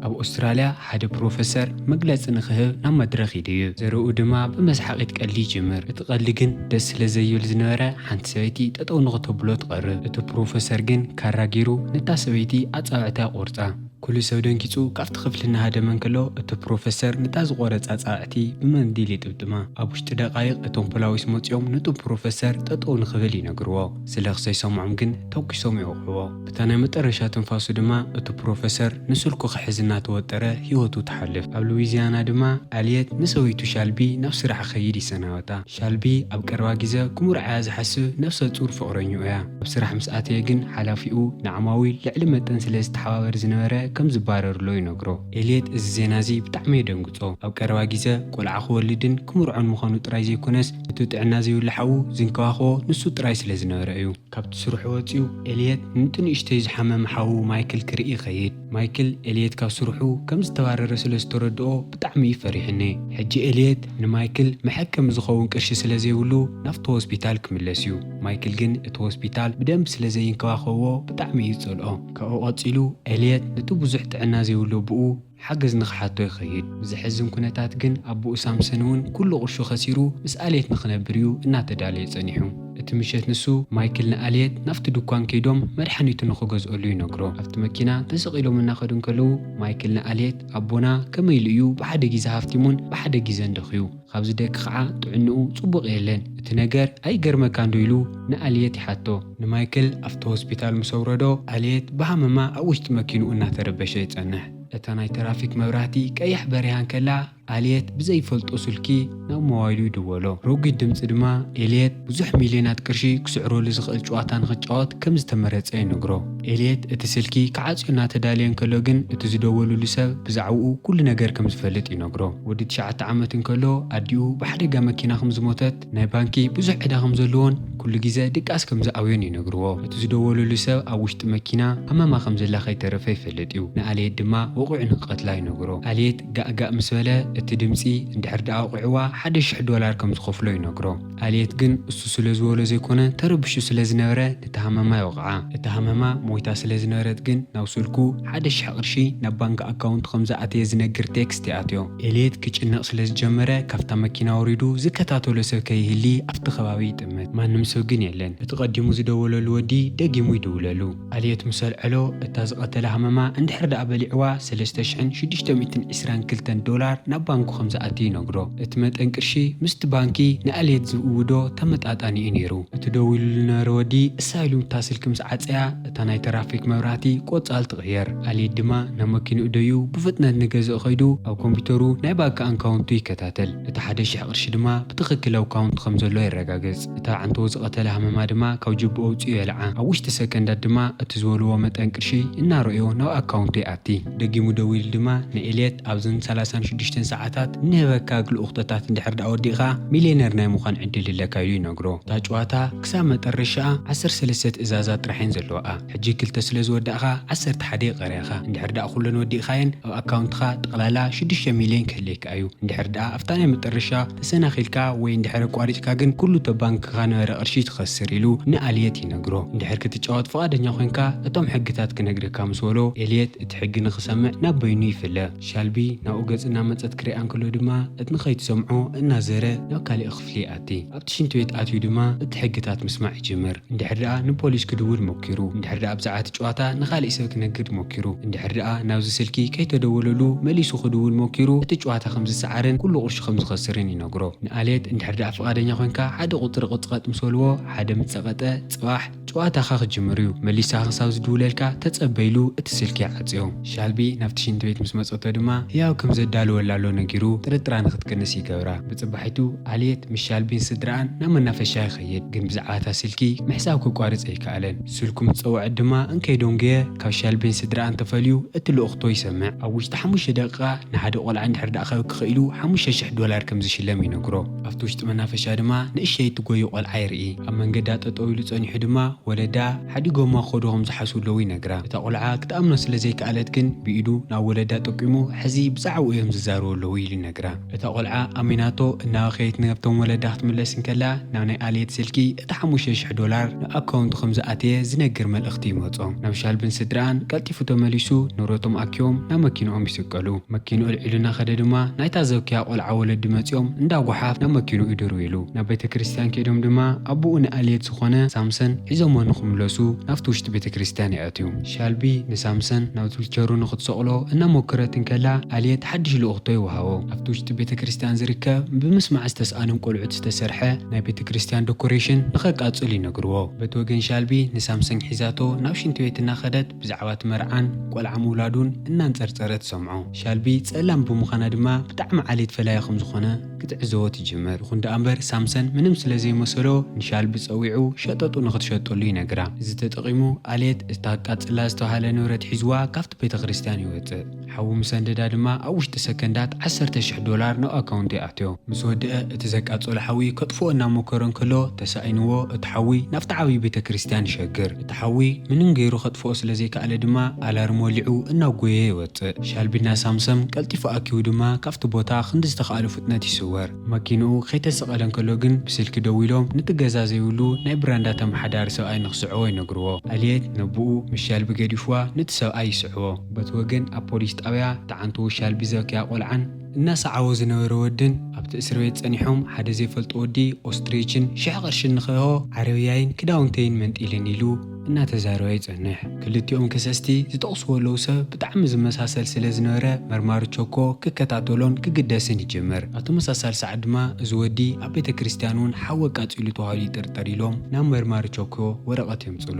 ኣብ ኣውስትራልያ ሓደ ፕሮፈሰር መግለጺ ንኽህብ ናብ መድረኽ ይድዩ ዘረኡ ድማ ብመስሓቒት ቀሊ ይጅምር እቲ ቀሊ ግን ደስ ስለ ዘይብል ዝነበረ ሓንቲ ሰበይቲ ጠጠው ንኽተብሎ ትቐርብ እቲ ፕሮፈሰር ግን ካራ ገይሩ ነታ ሰበይቲ ኣጻብዕታ ይቖርጻ ኵሉ ሰብ ደንጊጹ ካብቲ ክፍሊ እናሃደመ እንከሎ፣ እቲ ፕሮፈሰር ነታ ዝቖረጻ ጻዕዕቲ ብመንዲል ይጥምጥማ። ኣብ ውሽጢ ደቓይቕ እቶም ፖላዊስ መጺኦም ነቶም ፕሮፈሰር ጠጠው ንኽብል ይነግርዎ። ስለ ክሰይሰምዖም ግን ተኲሶም ይወቕዕዎ። በታ ናይ መጠረሻ ትንፋሱ ድማ እቲ ፕሮፈሰር ንስልኩ ክሕዝ እናተወጠረ ህይወቱ ትሓልፍ። ኣብ ሉዊዚያና ድማ ኣልየት ንሰበይቱ ሻልቢ ናብ ስራሕ ክኸይድ ይሰናበታ። ሻልቢ ኣብ ቀረባ ግዘ ክምርዓያ ዝሓስብ ነብሰ ፁር ፍቕረኝኡ እያ። ኣብ ስራሕ ምስ ኣተየ ግን ሓላፊኡ ንዓማዊል ልዕሊ መጠን ስለ ዝተሓባበር ዝነበረ ከም ዝባረርሎ ይነግሮ። ኤልየት እዚ ዜና እዚ ብጣዕሚ የደንግፆ። ኣብ ቀረባ ግዘ ቆልዓ ክወልድን ክምርዖን ምዃኑ ጥራይ ዘይኮነስ እቲ ጥዕና ዘይብሉ ሓዉ ዝንከባኸቦ ንሱ ጥራይ ስለ ዝነበረ እዩ። ካብቲ ስርሑ ወፂኡ ኤልየት ንቲ ንእሽተዩ ዝሓመመ ሓዉ ማይክል ክርኢ ይኸይድ። ማይክል ኤልየት ካብ ስርሑ ከም ዝተባረረ ስለ ዝተረድኦ ብጣዕሚ እዩ ፈሪሕኔ። ሕጂ ኤልየት ንማይክል መሐከሚ ዝኸውን ቅርሺ ስለ ዘይብሉ ናብቲ ሆስፒታል ክምለስ እዩ። ማይክል ግን እቲ ሆስፒታል ብደንቢ ስለ ዘይንከባኸብዎ ብጣዕሚ እዩ ዝጸልኦ። ካብኡ ቀጺሉ ኤልየት ነቲ ብዙሕ ጥዕና ዘይብሉ ኣቡኡ ሓገዝ ንኽሓቶ ይኸይድ። ብዘሕዝን ኩነታት ግን ኣቡኡ ሳምሰን እውን ኩሉ ቅርሹ ከሲሩ ምስ ኣልየት ንኽነብር እዩ እናተዳለየ ጸኒሑ። እቲ ምሸት ንሱ፣ ማይክል ንኣልየት ናብቲ ድኳን ከይዶም መድሓኒቱ ንኽገዝኦሉ ይነግሮ። ኣብቲ መኪና ተሰቕ ኢሎም እናኸዱ እንከለዉ፣ ማይክል ንኣልየት፣ ኣቦና ከመይ ኢሉ እዩ ብሓደ ጊዘ ሃፍቲሙን ብሓደ ጊዘን ደኽዩ? ኻብዚ ደኪ ኸዓ ጥዕንኡ ጽቡቕ የለን። እቲ ነገር ኣይገርመካንዶ? ኢሉ ንኣልየት ይሓቶ። ንማይክል ኣብቲ ሆስፒታል ምስ ኣውረዶ፣ ኣልየት ብሃመማ ኣብ ውሽጢ መኪንኡ እናተረበሸ ይጸንሕ። እታ ናይ ተራፊክ መብራህቲ ቀይሕ በሪሃ እንከላ፣ ኣልየት ብዘይፈልጦ ስልኪ ናብ ሞባይሉ ይድወሎ። ረጒድ ድምጺ ድማ ኤልየት ብዙሕ ሚልዮናት ቅርሺ ክስዕረሉ ዝኽእል ጭዋታ ንኽጫወት ከም ዝተመረጸ ይነግሮ። ኤልየት እቲ ስልኪ ክዓጽዮ እናተዳለየ እንከሎ ግን እቲ ዝደወሉሉ ሰብ ብዛዕባኡ ኩሉ ነገር ከም ዝፈልጥ ይነግሮ። ወዲ ትሽዓተ ዓመት እንከሎ ኣዲኡ ብሓደጋ መኪና ከም ዝሞተት፣ ናይ ባንኪ ብዙሕ ዕዳ ከም ዘለዎን ኩሉ ግዜ ድቃስ ከም ዝኣብዮን ይነግርዎ። እቲ ዝደወለሉ ሰብ ኣብ ውሽጢ መኪና ኣማማ ከም ዘላ ከይተረፈ ይፈልጥ እዩ። ንኣልየት ድማ ወቒዑ ንክቐትላ ይነግሮ። ኣልየት ጋእ ጋእ ምስ በለ እቲ ድምጺ እንድሕር ደኣ ኣውቒዕዋ ሓደ ሽሕ ዶላር ከም ዝኸፍሎ ይነግሮ። ኣልየት ግን እሱ ስለ ዝበሎ ዘይኮነ ተረብሹ ስለ ዝነበረ ነታ ሃመማ ይወቕዓ። እታ ሃመማ ሞይታ ስለ ዝነበረት ግን ናብ ስልኩ ሓደ ሽሕ ቅርሺ ናብ ባንኪ ኣካውንቱ ከም ዝኣተየ ዝነግር ቴክስት ይኣትዮ። ኤልየት ክጭነቕ ስለ ዝጀመረ ካብታ መኪና ወሪዱ ዝከታተሎ ሰብ ከይህሊ ኣብቲ ከባቢ ይጥምት። ማንም ሰብ ግን የለን። እቲ ቀዲሙ ዝደወለሉ ወዲ ደጊሙ ይድውለሉ። ኣልየት ምስ ኣልዐሎ እታ ዝቐተላ ሃመማ እንድሕር ደኣ በሊዕዋ ሰለስተ ሽሕን ሽዱሽተ ሚእትን ዕስራን ክልተን ዶላር ናብ ባንኩ ከም ዝኣቲ ይነግሮ። እቲ መጠን ቅርሺ ምስቲ ባንኪ ንኣልየት ዝእውዶ ተመጣጣኒ እዩ ነይሩ። እቲ ደዊሉሉ ዝነበረ ወዲ እሳ ኢሉ እታ ስልኪ ምስ ዓጸያ፣ እታ ናይ ተራፊክ መብራህቲ ቆጻል ትቅየር። ኣልይድ ድማ ናብ መኪንኡ ደዩ ብፍጥነት ንገዝእ ከይዱ ኣብ ኮምፒተሩ ናይ ባንኪ ኣንካውንቱ ይከታተል። እቲ ሓደ ሽሕ ቅርሺ ድማ ብትክክል ኣብ ካውንቱ ከም ዘሎ የረጋግጽ። እታ ኣዕንተዎ ዝቀተላ ሃመማ ድማ ካብ ጅብኡ ኣውጺኡ የልዓ። ኣብ ውሽጢ ሰከንዳት ድማ እቲ ዝበልዎ መጠን ቅርሺ እናረእዮ ናብ ኣካውንቱ ይኣቲ። ደጊሙ ደዊሉ ድማ ን ኤልየት ኣብዘን ሰላሳን ሽዱሽተን ሰዓታት እንህበካ ግልኡክተታት እንድሕር ደኣ ወዲእካ ሚልየነር ናይ ምኳን ዕድል እለካ ኢሉ ይነግሮ። እታ ጭዋታ። ክሳብ መጠረሻኣ ዓሰርተ ሰለስተ ትእዛዛት ጥራሕ እየን ዘለዋኣ ሕጂ ክልተ ስለ ዝወዳእካ ዓሰርተ ሓደ ይቀርያካ እንድሕር ደኣ ኩለን ወዲእካየን ኣብ ኣካውንትካ ጠቅላላ ሽዱሽተ ሚልዮን ክህልየካ እዩ እንድሕር ደኣ ኣብታ ናይ መጠረሻ ተሰናኪልካ ወይ እንድሕር ኣቋሪጭካ ግን ኩሉ እቶ ባንክካ ነበረ ቅርሺ ትከስር ኢሉ ን ኣልየት ይነግሮ እንድሕር ክትጫወት ፍቃደኛ ኮንካ እቶም ሕግታት ክነግረካ ምስ በሎ ኤልየት እቲ ሕጊ ንክሰምዕ ናብ በይኑ ይፍለ ሻልቢ ናብኡ ገጽ እናመጸት ክሪኣ እንከሎ ድማ እት ንከይትሰምዖ እናዘረ ናብ ካሊእ ክፍሊ ክፍሊ ይኣቲ። ኣብቲ ሽንቲ ቤት ኣትዩ ድማ እቲ ሕግታት ምስማዕ ይጅምር። እንድሕር ደኣ ንፖሊስ ክድውል ሞኪሩ፣ እንድሕር ደኣ ብዛዕባ እቲ ጨዋታ ንኻሊእ ሰብ ክነግር ሞኪሩ፣ እንድሕር ደኣ ናብዚ ስልኪ ከይተደወለሉ መሊሱ ክድውል ሞኪሩ እቲ ጨዋታ ከም ዝሰዓርን ኩሉ ቅርሹ ከም ዝኸስርን ይነግሮ። ንኣሌት እንድሕር ደኣ ፍቓደኛ ኮንካ ሓደ ቁጽሪ ቅጽቐጥ ምስ በልዎ ሓደ ምስ ጸቐጠ ጽባሕ ጭዋታኻ ክጅምር እዩ መሊሳ ክሳብ ዝድውለልካ ተጸበ ኢሉ እቲ ስልኪ ይዓጽዮ። ሻልቢ ናብቲ ሽንቲ ቤት ምስ መጸቶ ድማ ህያብ ከም ዘዳልወላሎ ነጊሩ ጥርጥራ ንክትቅንስ ይገብራ። ብጽባሒቱ ኣልየት ምስ ሻልቢን ስድራኣን ናብ መናፈሻ ይኸይድ ግን ብዛዕባ እታ ስልኪ ምሕሳብ ክቋርጽ ኣይከኣለን። ስልኩ ምስ ጸወዐት ድማ እንከይ ዶንጉየ ካብ ሻልቢን ስድራኣን ተፈልዩ እቲ ልኡኽቶ ይሰምዕ። ኣብ ውሽጢ ሓሙሽተ ደቂቃ ንሓደ ቆልዓ እንድሕር ደኣ ከብኪ ክኢሉ ሓሙሽተ ሽሕ ዶላር ከም ዝሽለም ይነግሮ። ኣብቲ ውሽጢ መናፈሻ ድማ ንእሸይ እትጎዩ ቆልዓ የርኢ። ኣብ መንገዳ ጠጠው ኢሉ ጸኒሑ ድማ ወለዳ ሓዲጎማ ክኸዱ ከም ዝሓስቡ ኣለዉ ይነግራ። እታ ቆልዓ ክትኣምኖ ስለ ዘይከኣለት ግን ብኢዱ ናብ ወለዳ ጠቂሙ ሕዚ ብዛዕብኡ እዮም ዝዛረቡ ኣለዉ ኢሉ ይነግራ። እታ ቆልዓ ኣሚናቶ እናበኸየት ናብቶም ወለዳ ክትምለስ እንከላ ናብ ናይ ኣልየት ስልኪ እቲ ሓሙሽተ ሽሕ ዶላር ናብ ኣካውንቱ ከም ዝኣተየ ዝነግር መልእኽቲ ይመጾ። ናብ ሻልብን ስድርኣን ቀልጢፉ ተመሊሱ ንብረቶም ኣኪቦም ናብ መኪንኦም ይስቀሉ። መኪንኡ ኣልዒሉ እናኸደ ድማ ናይታ ዘብክያ ቆልዓ ወለዲ መጺኦም እንዳ ጎሓፍ ናብ መኪንኡ ድርው ኢሉ። ናብ ቤተ ክርስትያን ከይዶም ድማ ኣቡኡ ንኣልየት ዝኾነ ሳምሰን ሒዞሞ ንኽምለሱ ናብቲ ውሽጢ ቤተ ክርስትያን የእትዩ። ሻልቢ ንሳምሰን ናብ ዙልቸሩ ንኽትሰቕሎ እናሞክረት እንከላ ኣልየት ሓድሽ ልኡኽቶ ይወሃቦ። ኣብቲ ውሽጢ ቤተ ክርስትያን ዝርከብ ብምስማዕ ዝተስኣኖም ቆልዑት ዝተሰርሐ ናይ ቤተ ክርስትያን ደኮሬሽን ንኸቃጽል ይነግርዎ። በቲ ወገን ሻልቢ ንሳምሰን ሒዛቶ ናብ ሽንቲ ቤት እናኸደት፣ ብዛዕባ እቲ መርዓን ቆልዓ ምውላዱን እናንጸርጸረ ትሰምዖ። ሻልቢ ጸላም ብምዃና ድማ ብጣዕሚ ዓሌት ፈላዪ ከም ዝኾነ ክትዕዘቦ ትጅምር። ይኹን ደኣ እምበር ሳምሰን ምንም ስለ ዘይመሰሎ ንሻልቢ ጸዊዑ ሸጠጡ ንኽትሸጠሉ ይነግራ። እዚ ተጠቒሙ ኣሌት እታ ኣቃጽላ ዝተባህለ ንብረት ሒዝዋ ካብቲ ቤተ ክርስቲያን ይወጽእ። ሓዉ ምስ ኣንደዳ ድማ ኣብ ውሽጢ ሰከንዳት ዓሰርተ ሽሕ ዶላር ናብ ኣካውንተይ ኣትዮ። ምስ ወደኣ እቲ ዘቃጸሎ ሓዊ ከጥፍኦ እናሞከረ እንከሎ ተሳኢንዎ እቲ ሓዊ ናብቲ ዓቢ ቤተክርስትያን ይሸግር። እቲ ሓዊ ምንም ገይሩ ከጥፍኦ ስለ ዘይከኣለ ድማ ኣላርም ወሊዑ እናጎየየ ይወጽእ። ሻልቢ እናሳምሰም ቀልጢፉ ኣኪቡ ድማ ካብቲ ቦታ ክንዲ ዝተኻእሎ ፍጥነት ይስወር። መኪንኡ ከይተሰቐለ እንከሎ ግን ብስልኪ ደዊሎም ንቲ ገዛ ዘይብሉ ናይ ብራንዳ ተመሓዳሪ ሰብኣይ ንክስዕቦ ይነግርዎ። ኣልየት ነቡኡ ምስ ሻልቢ ገዲፍዋ ንቲ ሰብኣይ ይስዕቦ። በቲ ወገን ኣብ ፖሊስ ጣብያ እቲ ዓንተዎ ሻልቢ ዘብከያ ቆልዓን፣ እናሰዓቦ ዝነበረ ወድን ኣብቲ እስርቤት ፀኒሖም ሓደ ዘይፈልጦ ወዲ ኦስትሪችን ሽሕ ቅርሽን ንክእሆ ዓረብያይን ክዳውንተይን መንጢልኒ ኢሉ እናተዛረበ ይጸንሕ። ክልቲኦም ከሰስቲ ዝጠቕስዎ ኣለዉ ሰብ ብጣዕሚ ዝመሳሰል ስለ ዝነበረ መርማሪ ቸኮ ክከታተሎን ክግደስን ይጅምር። ኣብ ተመሳሳሊ ሰዓት ድማ እዚ ወዲ ኣብ ቤተ ክርስትያን እውን ሓዊ ኣቃጺሉ ተባሂሉ ይጥርጠር ኢሎም ናብ መርማሪ ቸኮ ወረቐት የምጽሉ።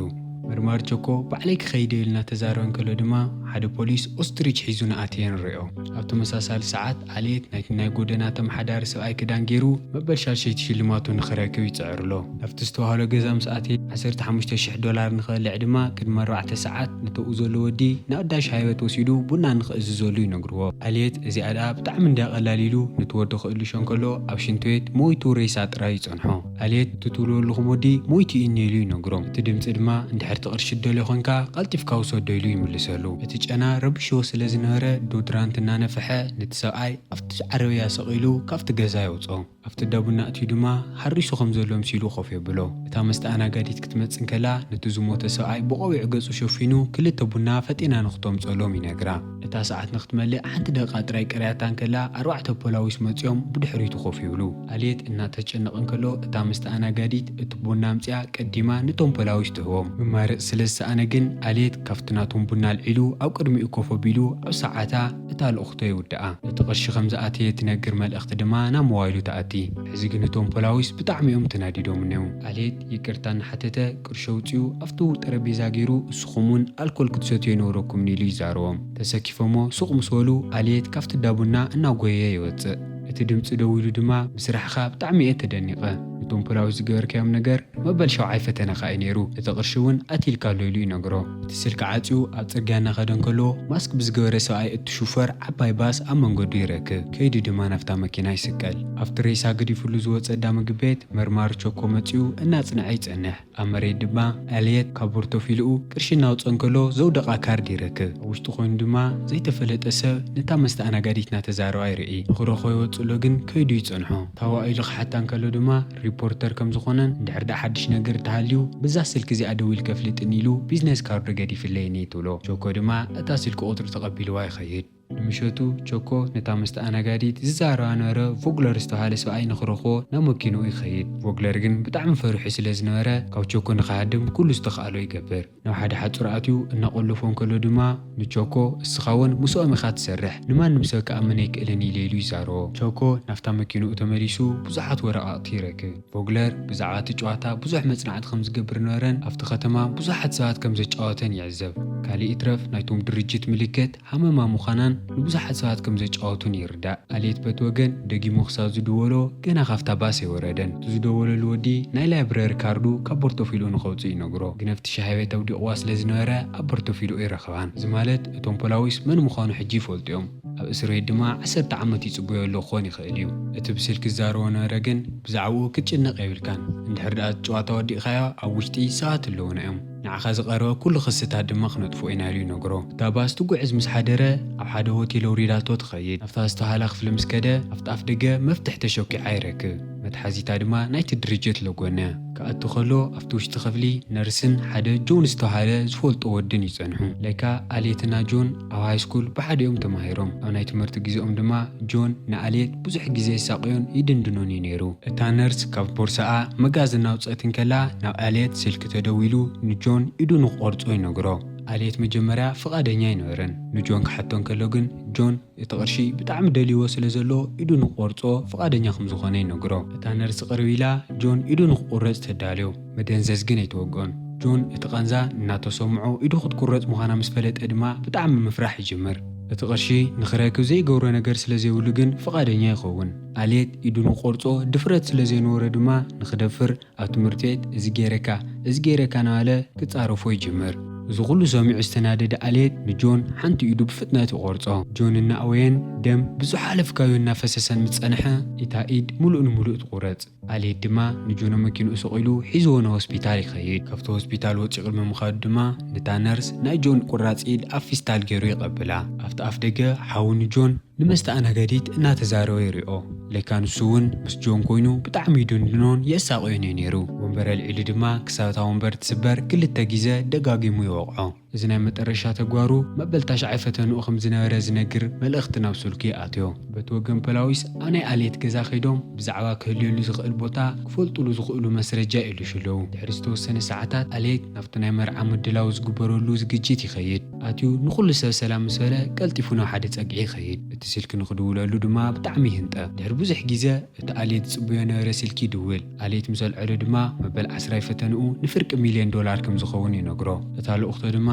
መርማሪ ቸኮ ባዕለይ ክኸይድ'የ ኢሉ እናተዛረበ እንከሎ ድማ ሓደ ፖሊስ ኦስትሪች ሒዙ ንኣትየ ንሪኦ። ኣብ ተመሳሳሊ ሰዓት ዓሌት ናይቲ ናይ ጎደና ተመሓዳሪ ሰብኣይ ክዳን ገይሩ መበል ሻድሸይቲ ሽልማቱ ንኽረክብ ይጽዕር ኣሎ። ናብቲ ዝተዋህሎ ገዛ ምስ ኣተየ ዓሰርተ ሓሙሽተ ሽሕ ዶላር ንኽበልዕ ድማ ቅድሚ ኣርባዕተ ሰዓት ነተብኡ ዘሎ ወዲ ንኣዳሽ ሃይበት ወሲዱ ቡና ንኽእዝዘሉ ይነግርዎ። ዓሌት እዚኣ ደኣ ብጣዕሚ እንድያ ቀላል ኢሉ ነቲ ወዲ ክእልሾ እንከሎ ኣብ ሽንትቤት ሞይቱ ሬሳ ጥራይ ይጸንሖ። ኣሌት ትትውልወልኹም ወዲ ሞይቱ እዩኒ ኢሉ ይነግሮም እቲ ድምጺ ድማ እንድሕር ትቅርሺ ትደልዮ ኮንካ ቀልጢፍካ ውሰዶ ኢሉ ይምልሰሉ እቲ ጨና ረቢሽዎ ስለ ዝነበረ ዶድራንት እናነፈሐ ነቲ ሰብኣይ ኣብቲ ዓረብያ ሰቂሉ ካብቲ ገዛ የውጾ ኣብቲ እዳቡና ኣእትዩ ድማ ሓሪሱ ከም ዘሎ ኣምሲሉ ኮፍ የብሎ እታ መስተኣናጋዲት ክትመጽእ እንከላ ነቲ ዝሞተ ሰብኣይ ብቆቢዕ ገጹ ሸፊኑ ክልተ ቡና ፈጢና ንክተምጸሎም ይነግራ እታ ሰዓት ንክትመልእ ሓንቲ ደቓ ጥራይ ቀርያታ እንከላ ኣርባዕተ ፖላዊስ መጺኦም ብድሕሪቱ ኮፍ ይብሉ። ኣልየት እናተጨነቐ እንከሎ እታ መስተኣናጋዲት እቲ ቡና ኣምጺኣ ቀዲማ ነቶም ፖላዊስ ትህቦም። ምማረጽ ስለ ዝሰኣነ ግን ኣልየት ካብቲ ናቶም ቡና ኣልዒሉ ኣብ ቅድሚኡ ኮፍ ኣቢሉ ኣብ ሰዓታ እታ ልእኽቶ ይውድኣ። እቲ ቅርሺ ከም ዝኣተየ ትነግር መልእኽቲ ድማ ናብ ሞባይሉ ትኣቲ። ሕዚ ግን እቶም ፖላዊስ ብጣዕሚ'ዮም ተናዲዶም'ኔው። ኣልየት ይቅርታ እናሓተተ ቅርሺ ኣውጺኡ ኣፍቱ ጠረጴዛ ጌሩ እስኹም ውን ኣልኮል ክትሰትዩ ኣይነበረኩምን ኢሉ ይዛረቦም። ተሰኪፎሞ ሱቕ ምስ በሉ ኣልየት ካብቲ እዳ ቡና እናጎየየ ይወጽእ። እቲ ድምጺ ደው ኢሉ ድማ ብስራሕኻ ብጣዕሚ እየ ተደኒቐ። ንቶም ፖላዊስ ዝገበርካዮም ነገር መበል ሻውዓይ ፈተነኻ እዩ ኔሩ። እቲ ቅርሺ ውን ኣትይልካ ኣሎ ኢሉ ይነግሮ። እቲ ስልኪ ዓጽዩ ኣብ ጽርግያ እናኸደ እንከሎ ማስክ ብዝገበረ ሰብኣይ እትሹፈር ዓባይ ባስ ኣብ መንገዱ ይረክብ። ከይዱ ድማ ናብታ መኪና ይስቀል። ኣብቲ ሬሳ ገዲፍሉ ዝወጸ እዳ ምግብ ቤት መርማሪ ቸኮ መጺኡ እናጽንዐ ይጸንሕ። ኣብ መሬት ድማ ኤልየት ካብ ቦርቶፊልኡ ቅርሺ እናውጸ እንከሎ ዘውደቓ ካርድ ይረክብ። ኣብ ውሽጢ ኮይኑ ድማ ዘይተፈለጠ ሰብ ነታ መስተኣናጋዲት እናተዛረባ ይርኢ። ንክረኽቦ ይወጽእሎ ግን ከይዱ ይጸንሖ። ታዋ ኢሉ ክሓታ እንከሎ ድማ ሪፖርተር ከም ዝኾነን እንድሕር ድኣ ሓድሽ ነገር እንተሃልዩ ብዛ ስልኪ እዚኣ ደዊልኪ ኣፍልጥኒ ኢሉ ቢዝነስ ካርዱ ገዲፍለይኒ ትብሎ። ቸኮ ድማ እታ ስልኪ ቁጽሪ ተቐቢልዋ ይኸይድ። ንምሸቱ ቸኮ ነታ መስተኣናጋዲት ዝዛረባ ነበረ ቮግለር ዝተባህለ ሰብኣይ ንኽረኽቦ ናብ መኪንኡ ይኸይድ። ቮግለር ግን ብጣዕሚ ፈሪሑ ስለ ዝነበረ ካብ ቸኮ ንኽሃድም ኩሉ ዝተኽኣሎ ይገብር። ናብ ሓደ ሓጹር ኣትዩ እናቖለፎ እንከሎ ድማ ንቸኮ እስኻ እውን ምስኦም ኢኻ ትሰርሕ፣ ንማንም ሰብ ክኣምን ኣይክእልን ኢለ ኢሉ ይዛረቦ። ቸኮ ናብታ መኪንኡ ተመሊሱ ብዙሓት ወረቓቕቲ ይረክብ። ቮግለር ብዛዕባ እቲ ጨዋታ ብዙሕ መጽናዕቲ ከም ዝገብር ነበረን ኣብቲ ከተማ ብዙሓት ሰባት ከም ዘጫወተን ይዕዘብ። ካልእ ይትረፍ ናይቶም ድርጅት ምልክት፣ ሃመማ ምዃናን ንብዙሓት ሰባት ከም ዘጫወቱን ይርዳእ። ኣሌት በቲ ወገን ደጊሙ ክሳብ ዝድወሎ ገና ካብታ ባስ ኣይወረደን። እቲ ዝደወለሉ ወዲ ናይ ላይብረሪ ካርዱ ካብ ቦርቶፊልኡ ንኸውጽእ ይነግሮ። ግን ኣብቲ ሻሂ ቤት ኣውዲቕዋ ስለ ዝነበረ ኣብ ቦርቶፊልኡ ኣይረኸባን። እዚ ማለት እቶም ፖላዊስ መን ምዃኑ ሕጂ ይፈልጡ'ዮም። ኣብ እስርቤት ድማ ዓሰርተ ዓመት ይጽበዮ ኣሎ ክኾን ይኽእል'ዩ። እቲ ብስልኪ ዝዛረቦ ነበረ ግን ብዛዕባኡ ክትጭነቕ የብልካን። እንድሕር ደኣ እቲ ጨዋታ ወዲእካዮ ኣብ ውሽጢ ሰባት'ለዉና'ዮም። ንዓኻ ዝቐረበ ኩሉ ክስታት ድማ ክነጥፍኦ ኢና ኢሉ ይነግሮ። እታ ባስ ትጉዕዝ ምስ ሓደረ፣ ኣብ ሓደ ሆቴል ኣውሪዳቶ ትኸይድ። ናብታ ዝተውሃላ ክፍሊ ምስ ከደ፣ ኣብቲ ኣፍደገ መፍትሕ ተሾኪዓ ይረክብ። መትሓዚታ ድማ ናይቲ ድርጅት ለጎነ። ክኣቱ ከሎ ኣብቲ ውሽጢ ክፍሊ፣ ነርስን ሓደ ጆን ዝተውሃለ ዝፈልጦ ወድን ይጸንሑ። ለካ ኣልየትና ጆን ኣብ ሃይስኩል ብሓደ'ዮም ተማሂሮም። ኣብ ናይ ትምህርቲ ግዜኦም ድማ ጆን ንኣልየት ብዙሕ ግዜ የሳቕዮን ይድንድኖን'ዩ ነይሩ። እታ ነርስ ካብ ቦርሳኣ መጋዝን ኣውጸት እንከላ፣ ናብ ኣልየት ስልኪ ተደዊሉ ንጆን ኢዱ ንክቆርጾ ይነግሮ። ኣልየት መጀመርያ ፍቃደኛ ኣይነበረን ንጆን ክሓቶ እንከሎ ግን ጆን እቲ ቅርሺ ብጣዕሚ ደልይዎ ስለ ዘሎ ኢዱ ንክቆርጾ ፍቃደኛ ከም ዝኮነ ይነግሮ። እታ ነርስ ቅርብ ኢላ ጆን ኢዱ ንክቁረጽ ተዳልዮ። መደንዘዝ ግን ኣይተወግኦን። ጆን እቲ ቃንዛ እናተሰምዖ ኢዱ ክትቁረጽ ምኳና ምስ ፈለጠ ድማ ብጣዕሚ ምፍራሕ ይጅምር። እቲ ቅርሺ ንክረክብ ዘይገብሮ ነገር ስለ ዘይብሉ ግን ፍቃደኛ ይከውን። ኣልየት ኢዱ ንክቆርጾ ድፍረት ስለ ዘይነበሮ ድማ ንክደፍር ኣብ ትምህርቲ ቤት እዚ ገይረካ እዚ ገይረካ እናበለ ክጻረፎ ይጅምር። እዚ ኩሉ ሰሚዑ ዝተናደደ ኣልየት ንጆን ሓንቲ ኢዱ ብፍጥነት ይቖርጾ። ጆን እናእወየን ደም ብዝሓለፍካዮ እናፈሰሰን ምስ ጸንሐ እታ ኢድ ምሉእ ንምሉእ ትቑረጽ። ኣልየት ድማ ንጆን ኣብ መኪንኡ ሰቒሉ ሒዝዎ ናብ ሆስፒታል ይኸይድ። ካብቲ ሆስፒታል ወጺኡ ቅድሚ ምኻዱ ድማ ነታ ነርስ ናይ ጆን ቁራጽ ኢድ ኣብ ፊስታል ገይሩ ይቐብላ። ኣብቲ ኣፍደገ ሓው ንጆን ንመስተኣናገዲት እናተዛረበ ይሪኦ። ለካ ንሱ'ውን ምስ ጆን ኮይኑ ብጣዕሚ ይድንድኖን የሳቕዮን እዩ ነይሩ። ወንበር ኣልዒሉ ድማ ክሳብ እታ ወንበር ትስበር ክልተ ጊዘ ደጋጊሙ ይወቕዖ። እዚ ናይ መጠረሻ ተግባሩ መበል ታሽዓይ ፈተንኡ ከም ዝነበረ ዝነግር መልእኽቲ ናብ ስልኩ ይኣትዮ። በቲ ወገን ፖላዊስ ኣብ ናይ ኣሌት ገዛ ከይዶም ብዛዕባ ክህልየሉ ዝኽእል ቦታ ክፈልጡሉ ዝኽእሉ መስረጃ ይእልሹ ኣለዉ። ድሕሪ ዝተወሰነ ሰዓታት ኣሌት ናብቲ ናይ መርዓ ምድላው ዝግበረሉ ዝግጅት ይኸይድ። ኣትዩ ንኹሉ ሰብ ሰላም ምስ በለ ቀልጢፉ ናብ ሓደ ጸግዒ ይኸይድ። እቲ ስልኪ ንኽድውለሉ ድማ ብጣዕሚ ይህንጠ። ድሕሪ ብዙሕ ግዜ እቲ ኣሌት ዝጽበዮ ነበረ ስልኪ ይድውል። ኣሌት ምስ ኣልዐሎ ድማ መበል ዓስራይ ፈተንኡ ንፍርቂ ሚልዮን ዶላር ከም ዝኸውን ይነግሮ። እታ ልኡኽቶ ድማ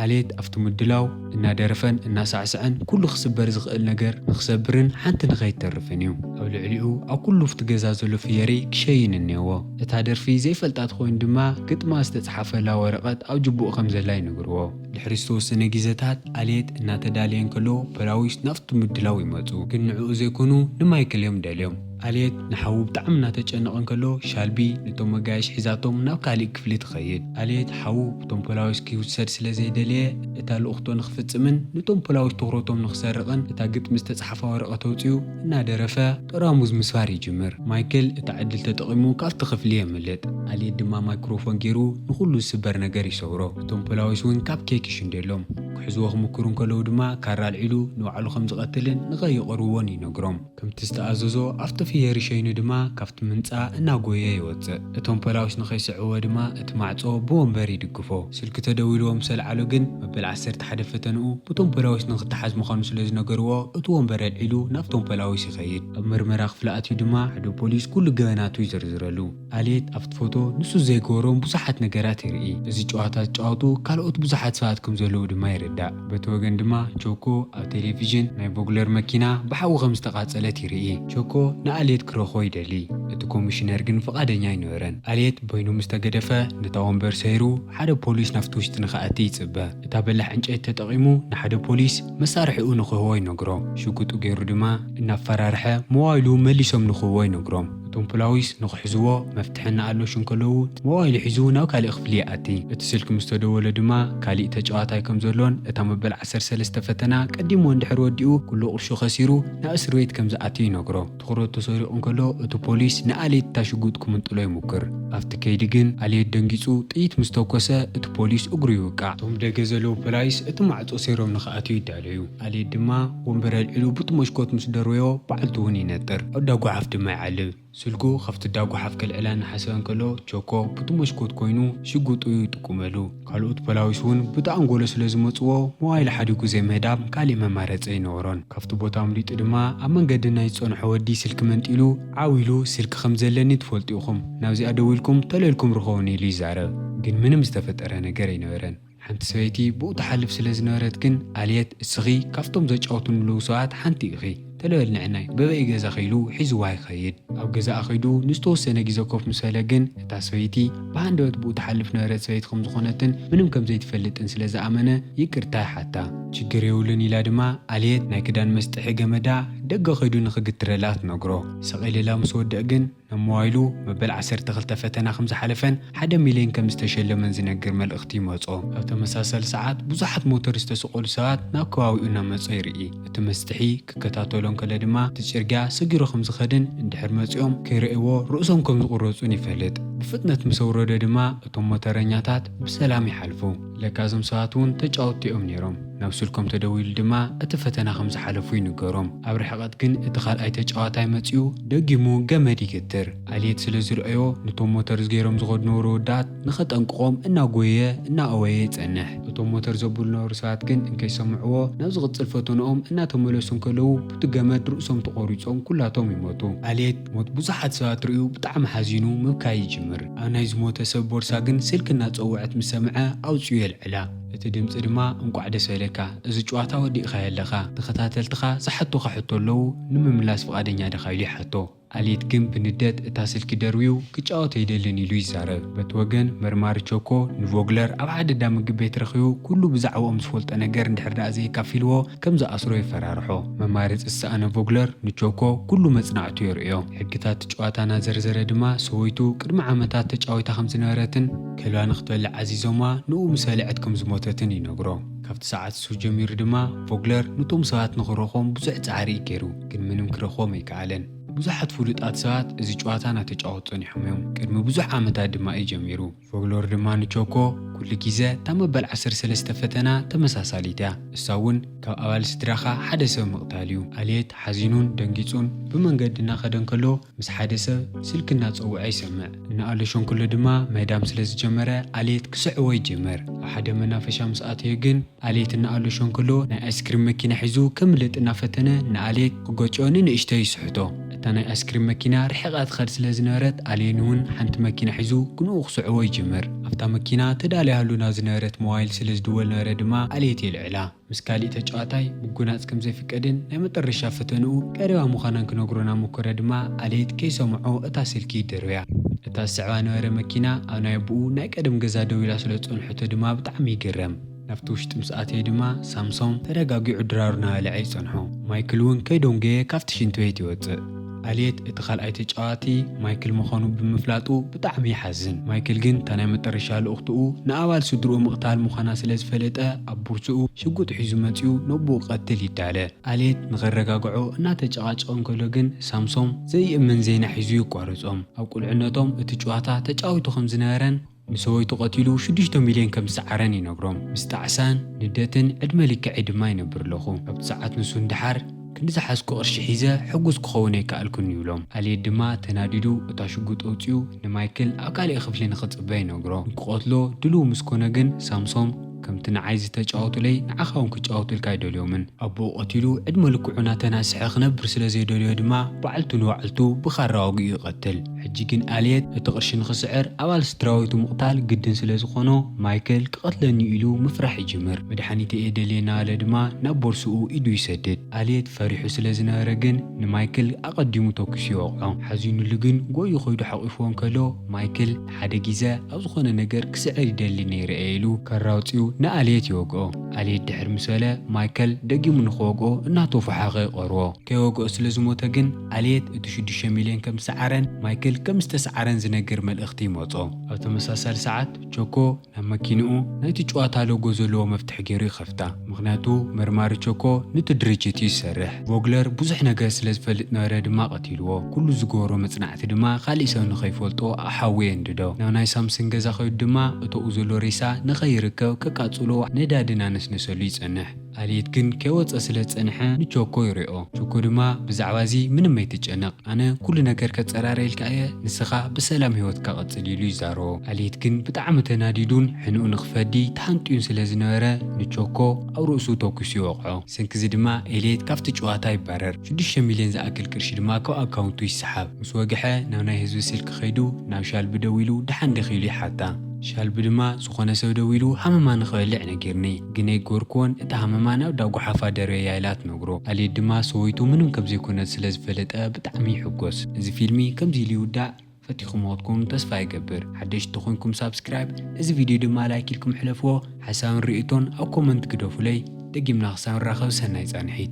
ኣሌት ኣብቲ ምድላው እናደረፈን እናሳዕሰዐን ኩሉ ክስበር ዝኽእል ነገር ንኽሰብርን ሓንቲ ንኸይትተርፍን እዩ። ኣብ ልዕሊኡ ኣብ ኩሉ ኣብቲ ገዛ ዘሎ ፍየሪ ክሸይን እኔዎ። እታ ደርፊ ዘይፈልጣ ትኾይን ድማ ግጥማ ዝተጽሓፈላ ወረቐት ኣብ ጅቡኡ ከም ዘላ ይነግርዎ። ድሕሪ ዝተወሰነ ጊዘታት ኣልየት እናተዳለየ እንከሎ ፖላዊስ ናብቲ ምድላው ይመጹ። ግን ንዕኡ ዘይኮኑ ንማይክል እዮም ደልዮም። ኣልየት ንሓዉ ብጣዕሚ እናተጨነቐ እንከሎ ሻልቢ ንቶም መጋየሽ ሒዛቶም ናብ ካሊእ ክፍሊ ትኸይድ። ኣልየት ሓዉ ብቶም ፖላዊስ ክይውሰድ ስለ ዘይደለየ እታ ልኡኽቶ ንኽፍጽምን ንቶም ፖላዊስ ትኹረቶም ንኽሰርቕን እታ ግጥሚ ዝተጽሓፋ ወረቐት ኣውጺኡ እናደረፈ ጠራሙዝ ምስባር ይጅምር። ማይክል እታ ዕድል ተጠቒሙ ካብቲ ክፍሊ የምልጥ። ኣልየት ድማ ማይክሮፎን ገይሩ ንኹሉ ዝስበር ነገር ይሰብሮ። እቶም ፖላዊስ እውን ካብ ኬክ ይሽንደሎም። ክሕዝዎ ክምክሩ እንከለዉ ድማ ካራ ኣልዒሉ ንባዕሉ ከም ዝቐትልን ንኸይቐርብዎን ይነግሮም። ከምቲ ዝተኣዘዞ ኣብቲ ፍየሪ ሸይኑ ድማ ካብቲ ምንጻ እናጎየ ይወጽእ። እቶም ፖላውስ ንኸይስዕብዎ ድማ እቲ ማዕጾ ብወንበር ይድግፎ። ስልኪ ተደዊልዎ ምስ ኣልዓሎ ግን መበል ዓሰርተ ሓደ ፈተንኡ ብቶም ፖላዊስ ንኽተሓዝ ምዃኑ ስለ ዝነገርዎ እቲ ወንበር ኣልዒሉ ናብቶም ፖላዊስ ይኸይድ። ኣብ መርመራ ክፍሊ ኣትዩ ድማ ሓደ ፖሊስ ኩሉ ገበናቱ ይዝርዝረሉ። ኣሌት ኣብቲ ፎቶ ንሱ ዘይገበሮም ብዙሓት ነገራት ይርኢ። እዚ ጨዋታ ዝጫወቱ ካልኦት ብዙሓት ሰባት ከም ዘለዉ ድማ ይርዳእ። በቲ ወገን ድማ ቾኮ ኣብ ቴሌቪዥን ናይ ቮግለር መኪና ብሓዊ ከም ዝተቓጸለት ይርኢ። ቸኮ ንኣልየት ክረኽቦ ይደሊ እቲ ኮሚሽነር ግን ፍቓደኛ ኣይነበረን። ኣልየት በይኑ ምስ ተገደፈ ነታ ወንበር ሰይሩ ሓደ ፖሊስ ናብቲ ውሽጢ ንኽኣቲ ይጽበ። እታ በላሕ ዕንጨይቲ ተጠቒሙ ንሓደ ፖሊስ መሳርሒኡ ንኽህቦ ይነግሮ። ሽጉጡ ገይሩ ድማ እናፈራርሐ ሞባይሉ መሊሶም ንኽህቦ ይነግሮም። እቶም ፖላዊስ ንኽሕዝዎ መፍትሒ እናኣሎሹ እንከለዉ ሞባይሉ ሒዙ ናብ ካሊእ ክፍሊ ይኣቲ። እቲ ስልኪ ምስ ተደወለ ድማ ካሊእ ተጫዋታይ ከም ዘሎን እታ መበል ዓሰርተ ዓሰርተ ሰለስተ ፈተና ቀዲምዎ እንድሕር ወዲኡ ኩሉ ቅርሹ ከሲሩ ናብ እስርቤት ከም ዝኣቱ ይነግሮ። ትኹረቱ ተሰሪቑ እንከሎ እቲ ፖሊስ ንኣሌት እታ ሽጉጥ ክምንጥሎ ይሙክር። ኣብቲ ከይዲ ግን ኣሌት ደንጊፁ ጥይት ምስ ተኮሰ እቲ ፖሊስ እግሩ ይውቃዕ። እቶም ደገ ዘለዉ ፖላይስ እቲ ማዕፆ ሰይሮም ንክኣትው ይዳለዩ። ኣሌት ድማ ወንበር ኣልዒሉ ቡቲ መሽኮት ምስ ደርበዮ ባዕልቱ እውን ይነጥር። ኣብ እዳ ጉሓፍ ድማ ይዓልብ። ስልኩ ካብቲ እዳ ጎሓፍ ከልዕላ እናሓሰበ እንከሎ ቸኮ ቡቲ መስኮት ኮይኑ ሽጉጡ ይጥቁመሉ። ካልኦት ፖላዊስ እውን ቡቲ ኣንጎሎ ስለ ዝመጽዎ ሞባይሉ ሓዲጉ ዘይምህዳም ካሊእ መማረጺ ኣይነበሮን። ካብቲ ቦታ ኣምሊጡ ድማ ኣብ መንገዲ ናይ ዝጸንሖ ወዲ ስልኪ መንጢሉ ዓው ኢሉ ስልኪ ከም ዘለኒ ትፈልጡ ኢኹም ናብዚኣ ደዊልኩም ተለልኩም ርኸቡኒ ኢሉ ይዛረብ። ግን ምንም ዝተፈጠረ ነገር ኣይነበረን። ሓንቲ ሰበይቲ ብኡ ትሓልፍ ስለ ዝነበረት ግን ኣልየት እስኺ ካብቶም ዘጫውቱ ንልዉ ሰባት ሓንቲ ኢኺ ተለ በል ንዕናይ በበይ ገዛኺ ኢሉ ሒዝዋ ይኸይድ። ኣብ ገዛኣ ከይዱ ንዝተወሰነ ግዜ ኮፍ ምስ በለ ግን እታ ሰበይቲ ብሃንደበት ብኡ ትሓልፍ ነበረት ሰበይቲ ከም ዝኾነትን ምንም ከም ዘይትፈልጥን ስለ ዝኣመነ ይቅርታ ይሓታ። ችግር የብሉን ኢላ ድማ ኣልየት ናይ ክዳን መስጥሒ ገመዳ ደገ ከይዱ ንኽግትረላ ትነግሮ። ሰቅ ኢልላ ምስ ወድእ ግን ናብ ሞባይሉ መበል ዓሰርተ ክልተ ፈተና ከም ዝሓለፈን ሓደ ሚልዮን ከም ዝተሸለመን ዝነግር መልእኽቲ ይመጾ። ኣብ ተመሳሳሊ ሰዓት ብዙሓት ሞተር ዝተሰቐሉ ሰባት ናብ ከባቢኡ እናመጹ ይርኢ። እቲ መስትሒ ክከታተሎ እንከሎ ድማ እቲ ጽርግያ ሰጊሩ ከም ዝኸድን እንድሕር መጺኦም ከይረእይዎ ርእሶም ከም ዝቑረጹን ይፈልጥ። ብፍጥነት ምስ ኣውረዶ ድማ እቶም ሞተረኛታት ብሰላም ይሓልፉ። ለካ እዞም ሰባት እውን ተጫወትቲ እዮም ነይሮም። ናብ ስልኮም ተደዊሉ ድማ እቲ ፈተና ከም ዝሓለፉ ይንገሮም። ኣብ ርሕቐት ግን እቲ ካልኣይ ተጫዋታይ መፂኡ ደጊሙ ገመድ ይግትር። ኣልየት ስለ ዝርኣዮ ንቶም ሞተርዝ ገይሮም ዝኸዱ ነበሩ ኣወዳት ንኸጠንቅቖም እናጎየየ እናኣወየ ይፀንሕ። እቶም ሞተር ዘብሉ ዝነበሩ ሰባት ግን እንከይሰምዕዎ ናብ ዝቕፅል ፈተንኦም እናተመለሱ እንከለዉ ብቲ ገመድ ርእሶም ተቖሪፆም ኩላቶም ይሞቱ። ኣልየት ሞት ብዙሓት ሰባት ርእዩ ብጣዕሚ ሓዚኑ ምብካይ ይጅምር። ኣብ ናይ ዝሞተ ሰብ ቦርሳ ግን ስልኪ እናጸወዐት ምስ ሰምዐ ኣውጺኡ የልዕላ። እቲ ድምጺ ድማ እንቋዕ ደስ በለካ እዚ ጭዋታ ወዲእካዮ ኣለኻ ተኸታተልትኻ ዝሓቱኻ ሕቶ ኣለዉ ንምምላስ ፍቓደኛ ዲኻ ኢሉ ይሓቶ። ኣሌት ግን ብንደት እታ ስልኪ ደርብዩ ክጫወት ኣይደልን ኢሉ ይዛረብ። በቲ ወገን መርማሪ ቸኮ ንቮግለር ኣብ ሓደ እንዳ ምግብ ቤት ረኺቡ ኩሉ ብዛዕብኦም ዝፈልጦ ነገር እንድሕር ደኣ ዘየካፊልዎ፣ ከም ዝኣስሮ የፈራርሖ። መማረጺ ዝሰኣነ ቮግለር ንቾኮ ኩሉ መጽናዕቱ የርእዮ። ሕግታት እቲ ጨዋታ እናዘርዘረ ድማ ሰበይቱ ቅድሚ ዓመታት ተጫዊታ ከም ዝነበረትን ከልባ ንክትበልዕ ኣዚዞማ ንኡ ምስ በልዐት ከም ዝሞተትን ይነግሮ። ካብቲ ሰዓት እሱ ጀሚሩ ድማ ቮግለር ኑቶም ሰባት ንክረኽቦም ብዙሕ ጻዕሪ እዩ ገይሩ ግን ምንም ክረኽቦም ኣይከኣለን። ብዙሓት ፍሉጣት ሰባት እዚ ጨዋታ እናተጫወቱ ጸኒሖም እዮም ቅድሚ ብዙሕ ዓመታት ድማ እዩ ጀሚሩ። ፎግሎር ድማ ንቾኮ ኩሉ ግዘ እታ መበል ዓሰርተ ሰለስተ ፈተና ተመሳሳሊት እያ። ንሳ እውን ካብ ኣባል ስድራኻ ሓደ ሰብ ምቕታል እዩ። ኣልየት ሓዚኑን ደንጊጹን ብመንገዲ እናኸደ እንከሎ ምስ ሓደ ሰብ ስልኪ እናጸውዐ ይሰምዕ። እናኣሎሸንኩሉ ድማ ምህዳም ስለ ዝጀመረ ኣልየት ክስዕቦ ይጅምር። ኣብ ሓደ መናፈሻ ምስ ኣተዮ ግን ኣልየት እናኣሎሸ እንከሎ ናይ ኣይስክሪም መኪና ሒዙ ከምልጥ እናፈተነ ንኣልየት ክገጭዮ ንንእሽተይ ይስሕቶ። እታ ናይ ኣይስክሪም መኪና ርሒቓ ትኸድ ስለ ዝነበረት ኣልየን'ውን ሓንቲ መኪና ሒዙ ግንኡ ክስዕቦ ይጅምር። ኣብታ መኪና ተዳልያሉ ናብ ዝነበረት ሞባይል ስለ ዝድወል ነበረ ድማ ኣልየት የልዕላ። ምስ ካሊእ ተጫዋታይ ምጉናጽ ከም ዘይፍቀድን ናይ መጠረሻ ፈተንኡ ቀሪባ ምዃናን ክነግሮ ናብ ሞከረ ድማ ኣልየት ከይሰምዖ እታ ስልኪ ይደርብያ። እታ ዝስዕባ ነበረ መኪና ኣብ ናይ ኣቡኡ ናይ ቀደም ገዛ ደው ኢላ ስለ ዝጸንሖቶ ድማ ብጣዕሚ ይግረም። ናብቲ ውሽጢ ምስ ኣተየ ድማ ሳምሶም ተረጋጊዑ ድራሩ ናበልዐ ይጸንሖ። ማይክል እውን ከይዶንጎየ ካብቲ ሽንቲ ቤት ይወጽእ። ኣልየት እቲ ካልኣይ ተጫዋቲ ማይክል ምዃኑ ብምፍላጡ ብጣዕሚ ይሓዝን። ማይክል ግን እታ ናይ መጠረሻ ልኡኽትኡ ንኣባል ስድርኡ ምቕታል ምዃና ስለ ዝፈለጠ ኣብ ቡርሱኡ ሽጉጥ ሒዙ መጺኡ ነቦኡ ክቐትል ይዳለ። ኣልየት ንኸረጋግዖ እናተጨቓጨቐ እንከሎ ግን ሳምሶም ዘይእመን ዜና ሒዙ የቋርጾም። ኣብ ቁልዕነቶም እቲ ጭዋታ ተጫዊቱ ከም ዝነበረን ንሰበይቱ ቀቲሉ ሽዱሽተ ሚልዮን ከም ዝሰዓረን ይነግሮም። ምስ ጣዕሳን ንደትን ዕድመ ልክዐይ ድማ ይነብር ኣለኹ። ኣብቲ ሰዓት ንሱ ንደሓር፣ ክንዲ ዝሓዝኩ ቅርሺ ሒዘ ሕጉስ ክኸውን ኣይከኣልኩን ይብሎም። ኣልየት ድማ ተናዲዱ እታ ሽጉጥ ኣውጺኡ ንማይክል ኣብ ካልእ ክፍሊ ንኽጽበ ይነግሮ። ንክቐትሎ ድሉው ምስ ኮነ ግን ሳምሶም፣ ከምቲ ንዓይ ዝተጫወቱለይ ንዓኻ ውን ክጫወቱልካ ኣይደልዮምን። ኣቡኡ ቀቲሉ ዕድመ ልክዑ ናተናስሐ ክነብር ስለ ዘይደለዮ ድማ ባዕልቱ ንባዕልቱ ብኻራ ወጊኡ ይቀትል። ሕጂ ግን ኣልየት እቲ ቅርሺ ንኽስዕር ኣባል ስድራቤቱ ምቕታል ግድን ስለ ዝኾኖ ማይክል ክቀትለኒ'ዩ ኢሉ ምፍራሕ ይጅምር። መድሓኒተይ እየ ደልየ እናበለ ድማ ናብ ቦርሱኡ ኢዱ ይሰድድ። ኣልየት ፈሪሑ ስለ ዝነበረ ግን ንማይክል ኣቀዲሙ ተኩሱ ይወቕዖ። ሓዚኑሉ ግን ጎዩ ከይዱ ሓቂፍዎ እንከሎ ማይክል። ሓደ ጊዘ ኣብ ዝኾነ ነገር ክስዕር ይደሊ ነይረ እየ ኢሉ ከራ ኣውጺኡ ንኣልየት ይወግኦ። ኣልየት ድሕር ምስ በለ ማይከል ደጊሙ ንኽወግኦ እናተፎሓኸ ይቐርዎ። ከይወግኦ ስለ ዝሞተ ግን ኣልየት እቲ ሽዱሽተ ሚልዮን ከም ዝሰዓረን ማይክል ከም ዝተስዓረን ዝነግር መልእኽቲ ይመጾ። ኣብ ተመሳሳሊ ሰዓት ቾኮ ናብ መኪንኡ ናይቲ ጭዋታ ሎጎ ዘለዎ መፍትሕ ገይሩ ይኸፍታ፣ ምኽንያቱ መርማሪ ቸኮ ኑቲ ድርጅት እዩ ዝሰርሕ። ቮግለር ብዙሕ ነገር ስለ ዝፈልጥ ነበረ ድማ ቀቲልዎ፣ ኩሉ ዝገበሮ መጽናዕቲ ድማ ካሊእ ሰብ ንኸይፈልጦ ኣብ ሓዊ የንድዶ። ናብ ናይ ሳምስን ገዛ ከይዱ ድማ እቶኡ ዘሎ ሬሳ ንኸይርከብ ከቃጽሎ ነዳዲ እናነስነሰሉ ይጸንሕ። ኣልየት ግን ከይወጸ ስለ ዝጸንሐ ንቾኮ ይሪኦ ቾኮ ድማ ብዛዕባ እዚ ምንም ኣይትጨነቅ ኣነ ኩሉ ነገር ከጸራርየልካ እየ ንስካ ብሰላም ሂወትካ ቀጽል ኢሉ ይዛረቦ ኣልየት ግን ብጣዕሚ ተናዲዱን ሕንኡ ንክፈዲ ተሃንጥዩን ስለ ዝነበረ ንቾኮ ኣብ ርእሱ ቶኪሱ ይወቅዖ ብሰንኪ እዚ ድማ ኤልየት ካብቲ ጭዋታ ይባረር ሽዱሽተ ሚልዮን ዝኣክል ቅርሺ ድማ ካብ ኣካውንቱ ይሰሓብ ምስ ወግሐ ናብ ናይ ህዝቢ ስልኪ ከይዱ ናብ ሻልቢ ደዊሉ ደሓን ዲኪ ኢሉ ይሓታ ሻልቢ ድማ ዝኮነ ሰብ ደዊሉ ሃመማ ንክበልዕ ነጊርኒ። ግነይ ጎርክዎን እታ ሃመማ ናብ እዳ ጎሓፋ ደርበያ ኢላ ትነግሮ ኣልየት ድማ ሰወይቱ ምንም ከምዘይኮነት ስለ ዝፈለጠ ብጣዕሚ ይሕጎስ እዚ ፊልሚ ከምዚ ኢሉ ይውዳእ ፈቲኩምዎ ክትኮኑ ተስፋ ይገብር ሓደሽቲ ተኮንኩም ሳብስክራይብ እዚ ቪድዮ ድማ ላይክ ኢልኩም ሕለፍዎ ሓሳብን ሪኢቶን ኣብ ኮመንት ግደፉለይ ደጊምና ክሳብ ንራከብ ሰናይ ፃንሒት።